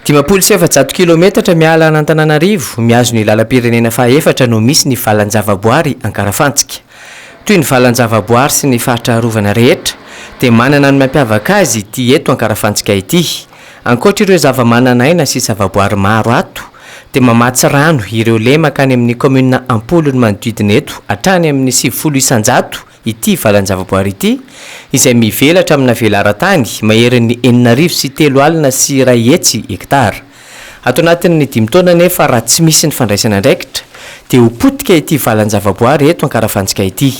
Dimampolo sy efajato kilometatra miala an'Antananarivo, mihazo ny lalam-pirenena fahaefatra no misy ny valan-javaboary Ankarafantsika. Toy ny valan-javaboary sy ny faritra arovana rehetra, dia manana ny mampiavaka azy ity eto Ankarafantsika ity. Ankoatr'ireo zavamananaina sy zavaboary maro ato, dia mamatsy rano ireo lemaka any amin'ny kaominina am-polony manodidina eto hatrany amin'ny sivifolo isan-jato, Ity valan-javaboary ity, izay mivelatra amina velaran-tany maherin'ny enina arivo sy telo alina sy iray hetsy hektara. Ato anatin'ny dimy taona anefa raha tsy misy ny fandraisana andraikitra dia ho potika ity valan-javaboary eto Ankarafantsika ity.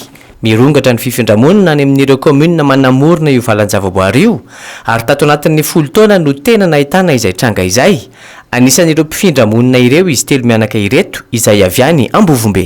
Mirongatra ny fifindra-monina any amin'ireo kaominina manamorona io valan-javaboary io ary tato anatin'ny folo taona no tena nahitana izay tranga izay. Anisan'ireo mpifindra-monina ireo izy telo mianaka ireto izay avy any Ambovombe.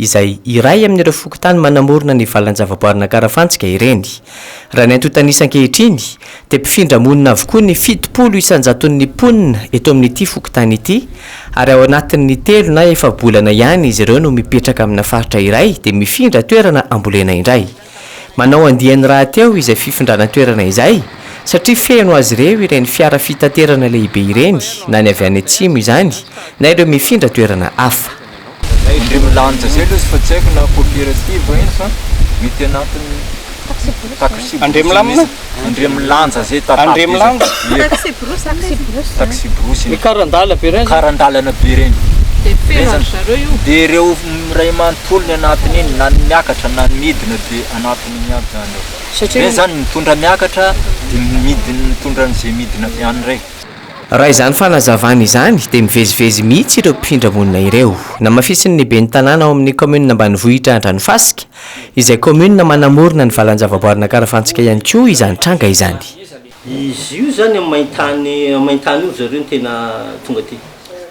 izay iray amin'ireo fokontany manamorona ny valan-javaboarinà Karafantsika ireny. Raha ny antontanisa ankehitriny, dia mpifindra monina avokoa ny fitopolo isan-jaton'ny mponina eto amin'ity fokontany ity, ary ao anatin'ny telo na efa-bolana ihany izy ireo no mipetraka amina faritra iray dia mifindra toerana ambolena indray. Manao andiany rahateo izay fifindrana toerana izay satria feno azy ireo ireny fiara fitaterana lehibe ireny na ny avy any atsimo izany na ireo mifindra toerana hafa. Indreo milanja zay lesy fa tsy haiko na cooperative ino fa mety anatiny taxi box misy. Andriamilanja zay tantara be zay. Taxi-brousse. Taxi-brousse. Ny karan-dala be reny. Karan-dalana be reny. Dia ireo iray manontolo ny anatin'iny na ny miakatra na ny midina dia anatin'iny aby zany ao. Satria. Reny zany mitondra miakatra dia midina mitondra an'izay midina avy any reny. Raha izany fanazavana izany dia mivezivezy mihitsy ireo mpifindra monina ireo. Namafisin'ny ben'ny tanàna ao amin'ny kaominina ambanivohitra Andranofasika, Izay kaominina manamorona ny valan-javaboarin'Ankarafantsika ihany koa izany tranga izany. Izy io izany amin'ny main-tany, amin'ny main-tany io ry zareo no tena tonga aty.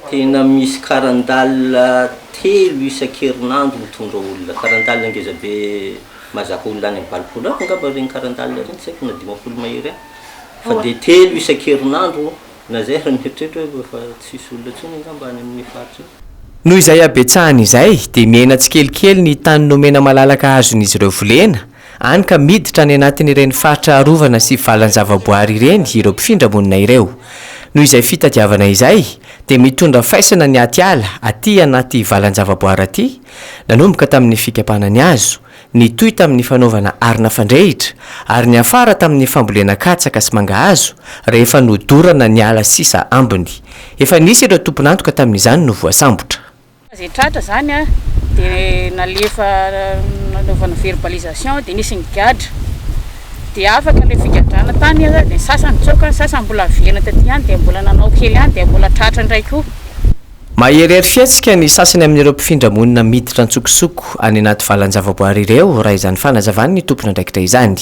Tena misy karandalina telo isan-kerinandro mitondra olona. Karandalina ngeza be mahazaka olona any amin'ny valopolo any angamba ireny karandalina ireny, tsy haiko na dimampolo mahery any. Fa dia telo isan-kerinandro. Lazaiko raha mieritreritra hoe efa tsy hisy olona intsony angamba any amin'iny faritra iny. Noho izay habetsahany izay dia miaina tsikelikely ny tany nomena malalaka azon'izy ireo volena, hany ka miditra any anatin'ireny faritra arovana sy valan-javaboary ireny ireo mpifindra monina ireo. Noho izay fitadiavana izay dia mitondra faisana ny atiala aty anaty valan-javaboary aty, nanomboka tamin'ny fikapana ny hazo, Nitohy tamin'ny fanaovana arina fandrehitra ary niafara tamin'ny fambolena katsaka sy mangahazo rehefa nodorana ny ala sisa ambiny. Efa nisy ireo tompon'antoka tamin'izany no voasambotra. Rehefa izay tratra izany dia nalefa nanaovana verbalisation dia nisy nigadra. Dia afaka ilay figadrana tany dia ny sasany nitsoaka, ny sasany mbola velona taty ihany dia mbola nanao kely ihany dia mbola tratra indray koa. Maherihery fihetsika ny sasany amin'ireo mpifindra monina miditra an-tsokosoko any anaty valan-javaboary ireo raha izany fanazavan'ny tompon'andraikitra izany.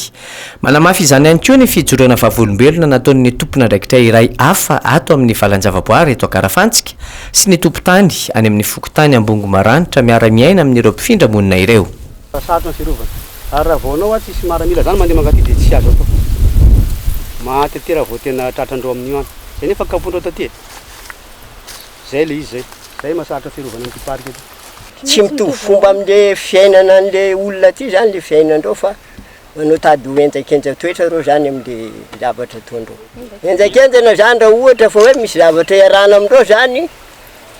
Manamafy izany ihany koa ny fijoroana vavolombelona nataon'ny tompon'andraikitra iray hafa ato amin'ny valan-javaboary eto Ankarafantsika sy ny tompon-tany any amin'ny fokontany Ambongo Maranitra miara-miaina amin'ireo mpifindra monina ireo. Raha sarotra ny fiarovana. Ary raha vao anao ary tsisy maramila zany mandeha mankaty dia tsy azo atao. Maty aty raha vao tena tratran'ireo amin'io any. Izay nefa kapoin'ireo taty e. Zay le izy zay. Zay masarotra fiarovana an'ity parc ity. Tsy mitovy fomba amle fiainana anle olona aty zany le fiainandreo fa manao tady ho henjakenja toetra reo zany amle zavatra ataondreo. Henjakenjana zany raha ohatra fa hoe misy zavatra iarahana amindreo zany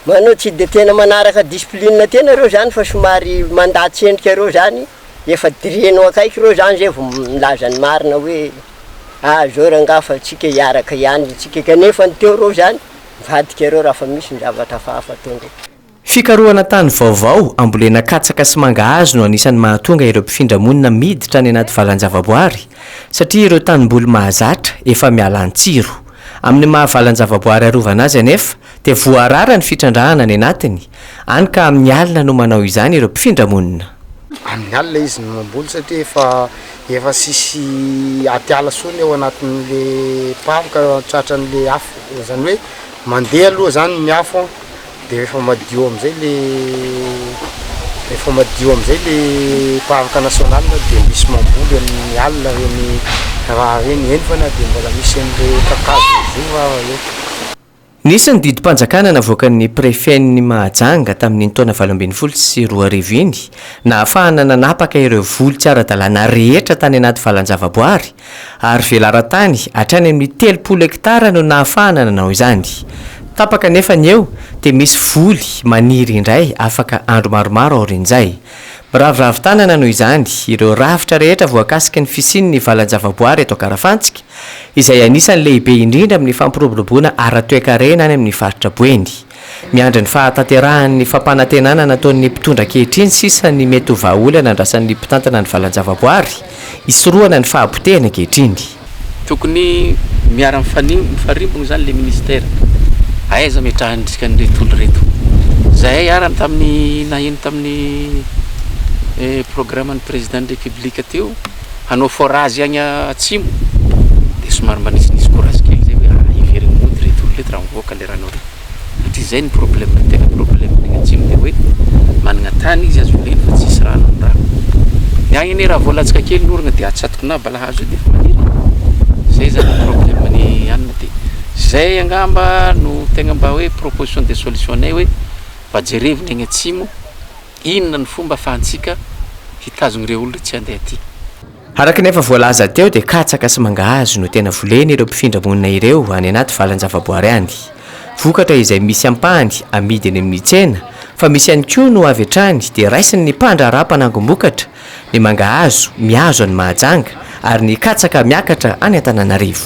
manao tsy de tena manaraka discipline tena reo zany fa somary mandà tsendrika reo zany. efa dirianao akaiky ireo zany zay vao milaza ny marina hoe ah zao rangaha fa tsika hiaraka ihany tsika kanefa ny teo ireo zany mivadika ireo raha fa misy ny zavatra hafahafa ataondreo. Fikarohana tany vaovao, ambolena katsaka sy mangahazo no anisan'ny mahatonga ireo mpifindra monina miditra any anaty valan-javaboary, satria ireo tanimboly mahazatra efa miala an-tsiro. Amin'ny maha valan-javaboary arovana azy anefa, dia voarara ny fitrandrahana any anatiny, any ka amin'ny alina no manao izany ireo mpifindra monina. Amin'ny alina izy no mamboly satria efa efa tsisy atiala tsony ao anatin'le pary ka tratran'le afo, izany hoe mandeha aloha zany ny afo an, dia rehefa madio amin'izay le rehefa madio amin'izay le parc national dia misy mamboly amin'ny alina ireny raha ireny, eny fa na dia mbola misy an'le kakazo mizora ary eo. Nisy ny didim-panjakana navoakan'ny Prefen'i Mahajanga tamin'iny taona valo ambin'ny folo sy roa arivo iny, nahafahana nanapaka ireo voly tsy ara-dalàna rehetra tany anaty valan-javaboary, ary velaran-tany hatrany amin'ny telopolo hektara no nahafahana nanao izany. Tapaka anefa ny eo, dia misy voly maniry indray afaka andro maromaro aorian'izay. Miraviravy tanana noho izany ireo rafitra rehetra voakasiky ny fisian'ny valan-javaboary eto Ankarafantsika, izay anisan'ny lehibe indrindra amin'ny fampiroboroboana ara-toekarena any amin'ny faritra Boeny. Miandry ny fahatanterahan'ny fampanantenana nataon'ny mpitondra ankehitriny sisa ny mety ho vahaolana andrasan'ny mpitantana ny valan-javaboary hisorohana ny fahabotehany ankehitriny. Tokony miara mifarimbona izany ilay minisitera. Aiza ametrahany ny dikan'ireto olona ireto? Zahay arany tamin'ny naheno tamin'ny programan'ny Président ny République teo, hanao forage agny atsimo de somary mba nisinisy courage kely zay hoe ah heverigny mody reto olona reto raha mivoaka le rano re satria zay ny problème ny tegna problème ny agny atsimo de hoe managna tany izy azo voleny fa tsisy rano ny rano ny agny anie raha vao latsaka kely ny oragna de atsatoky na balahazo io de efa maniry e zay zany ny problème ny anina de zay angamba no tegna mba hoe proposition de solution-nay hoe mba jerevigny agny atsimo Inona no fomba afahantsika hitazogna ireo olona tsy handeha aty? Araka ny efa voalaza teo dia katsaka sy mangahazo no tena volen' ireo mpifindra monina ireo any anaty valan-javaboary any. Vokatra izay misy ampahany amidy eny amin' ny tsena fa misy ihany koa no avy hatrany dia raisin' ny mpandraharaha mpanangom-bokatra, ny mangahazo mihazo any Mahajanga ary ny katsaka miakatra any Antananarivo.